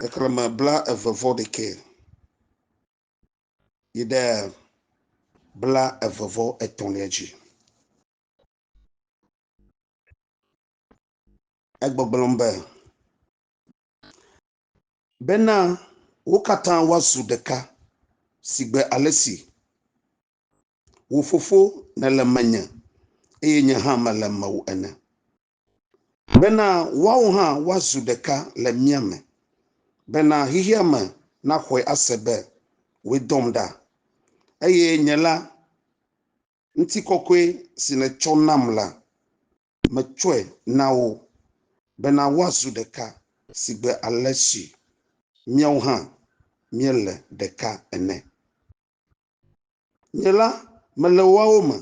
xexlẽme blaeve-vɔ-ɖekɛ yi ɖe blaeve-vɔ-etɔ̃lia dzi. Egbɔgblɔm be, Bena wo katã woazu ɖeka sigbe ale si wò Fofo nèle menye eye nye hã mele mewò ene. Bena woawo hã woazu ɖeka le mía me, bena xexea me naxɔe ase be wòe dɔm ɖa, eye nye la, ŋutikɔkɔe si nètsɔ nam la, metsɔe na wo, bena woazu ɖeka sigbe ale si míawo hã míele ɖeka ene. Nye la, mele woawo me,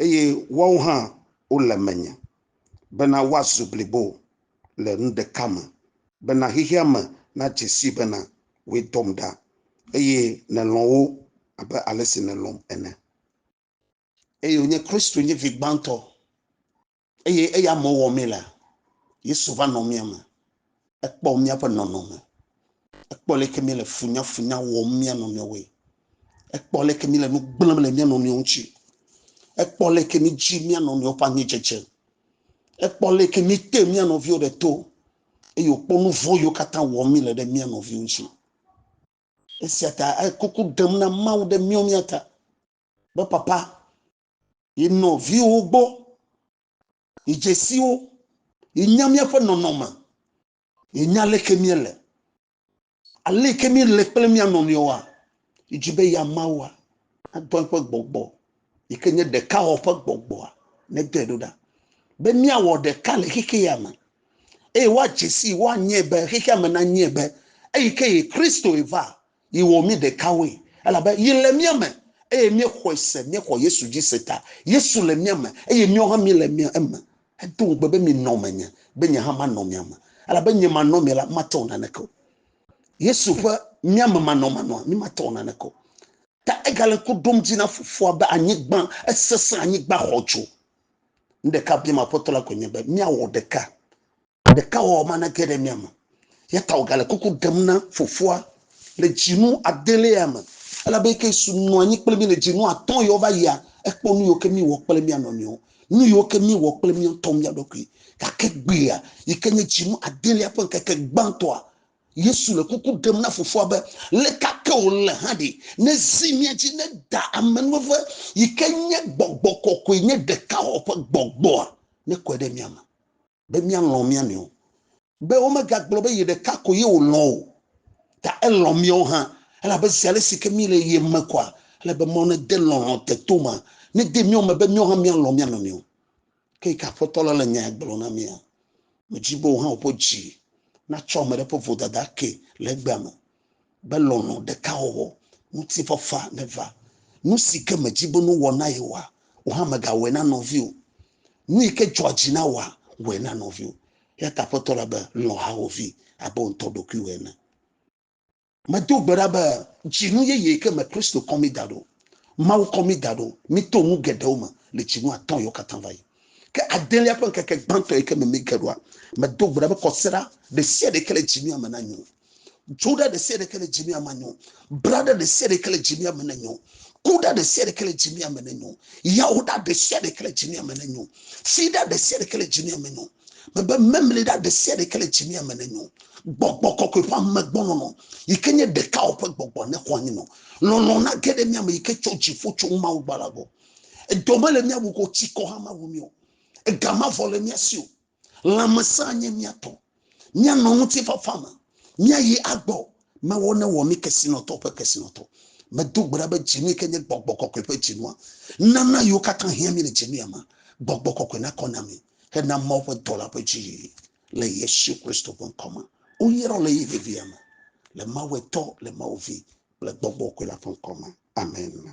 eye woawo hã wole menye, bena woazu blibo le nu ɖeka me, bena xexea me nadze sii bena wòe dɔm ɖa, eye nèlɔ̃ wo abe ale si nèlɔ̃m ene. Eye wònye Kristo nye vi gbãtɔ Eye eya me wɔ mí la, Yesu va nɔ mía me. Ekpɔ míaƒe nɔnɔme. Ekpɔ leke mí le funyafunya wɔm mía nɔnɔewoe. Ekpɔ leke mí le nu gblẽm le mía nɔnɔewo ŋuti. Ekpɔ leke mí dzi mía nɔnɔewo ƒe anyidzedze. Ekpɔ leke mí te mía nɔviwo ɖe to. Eye wòkpɔ nu vɔ̃ yiwo katã wɔm mí le ɖe mía nɔviwo ŋuti. Esia ta ekuku ɖem na Mawu ɖe míawo mía ta be, Papa, yi nɔviwo gbɔ, yi dzesiwo, yi nya míaƒe nɔnɔme, yi nya leke míele, aleke míele kple mía nɔnɔewoa, yi dzi be ya Mawua nadɔ eƒe gbɔgbɔ yi ke nye ɖeka wɔ ƒe gbɔgbɔa nedɔe ɖo ɖa be míawɔ ɖeka le xexi ya me eye woadze si woanyɛ be xexi ya me nanyɛ be eyi ke yi Kristo yi va Yi wɔ mí ɖekawoe, elabe yi le mía me, eye míexɔe se, míexɔ Yesu dzi se ta. Yesu le mía me, eye míawo hã míele mía eme. Edo ŋugbe be, Minɔ menye, be nye hã manɔ mia me. Elabe nye manɔ mia la, mate wɔ naneke o. Yesu ƒe mía me manɔmanɔa, mí mate wɔ naneke o. Ta egale ŋku ɖom dzi na Fofoa be anyigba, esesẽ, anyigba xɔ dzo. Nu ɖeka biam Aƒetɔ la koe nye be míawɔ ɖeka. Ɖekawɔwɔ manege ɖe mía me o, eya ta wògale kuku ɖem na Fofoa le dzinu adelea me, elabe eke su nɔ anyi kple mí le dzinu atɔ̃ ɣiawo va yia, ekpɔ nu yiwo ke míwɔ kple mía nɔnɔewo, nu yiwo ke míewɔ kple mía ŋutɔ mía ɖokui. Gake egbea, yi ke nye dzinu adelea ƒe ŋkeke gbãtɔa, Yesu le kuku ɖem na Fofoa be, Le ka ke wòle hã ɖe, nezi mía dzi ne Da amenuveve, yi ke nye Gbɔgbɔ Kɔkɔe, nye Ɖekawɔwɔ ƒe Gbɔgbɔa, nekɔe ɖe mía me. be míalɔ̃ mía nɔewo, be womegagblɔ be yeɖeka ko ye wòlɔ̃ o, ta elɔ̃ míawo hã, elabe zi ale si ke míele ye me koa, ele be Mawu nede lɔlɔ̃ te to ma, nede mía me be míawo hã míalɔ̃ mía nɔnɔewo. Ke yi ke Aƒetɔ la le nya ya gblɔm na mía, medi be wò hã wò ƒe dzi natsɔ ame ɖe ƒe vodada akee le egbea me. be lɔlɔ̃ ɖeka wɔwɔ, ŋutifafa neva. Nu si ke mèdi be nuwɔ na yewoa, wò hã mègawɔe na nɔviwò. Nu yi ke dzɔa dzi na wòa, wɔe na nɔviwò. Eya ta Aƒetɔ la be, Lɔ̃ hawòvi abe wò ŋutɔ ɖokuiwò ene. Medo gbe ɖa be dzinu yeye ke me Kristo kɔ mí da ɖo, Mawu kɔ mí da ɖo, míto nu geɖewo me le dzinu atɔ̃awo katã va yi. Ke adelia ƒe ŋkeke gbãtɔ yi ke me míege ɖoa, medo gbe ɖa be kɔsiɖa ɖesiaɖe yi ke le dzinua me nanyo. Dzoɖa ɖe sia ɖeke le dzimia me nyo. Braɖa ɖe sia ɖeke le dzimia me nyo. Kuɖa ɖe sia ɖeke le dzimia me nyo. Yawoɖa ɖe sia ɖeke le dzimia me nyo. Fiɖa ɖe sia ɖeke le dzimia me nyo. Mebe memliɖa ɖe sia ɖeke le dzimia me nyo. Gbɔgbɔ kɔkɔe ƒe amegbɔnɔnɔ yi ke nye ɖekawɔ ƒe gbɔgbɔ ne xɔ anyi nɔ. Lɔlɔ̃ na ge ɖe mia me yi ke tso dziƒo tso Mawu gbɔ la gbɔ. Edɔ mele mia wu ko tsikɔ hã mawu mi o. Ega mavɔ le mia si o. Lãmesẽa nye mía tɔ. Míanɔ ŋutifafa me. Míayi agbɔ. Mewɔ ne wɔ mí kesinɔtɔ ƒe kesinɔtɔ. Medo gbe ɖa be dzinue ke nye gbɔgbɔ kɔkɔe ƒe dzinua. Nana yiwo katã hiã mí le dzinuya me. Gbɔgbɔ kɔkɔe nakɔ na mí hena Mawu ƒe dɔla ƒe dziyiyi. Le Yesu Kristo ƒe ŋkɔ me. Woyrɔ le ɣeyiɣi vevia me. Le Mawu Etɔ, le Mawu Vi kple Gbɔgbɔ kɔkɔe la ƒe ŋkɔ me. Amen.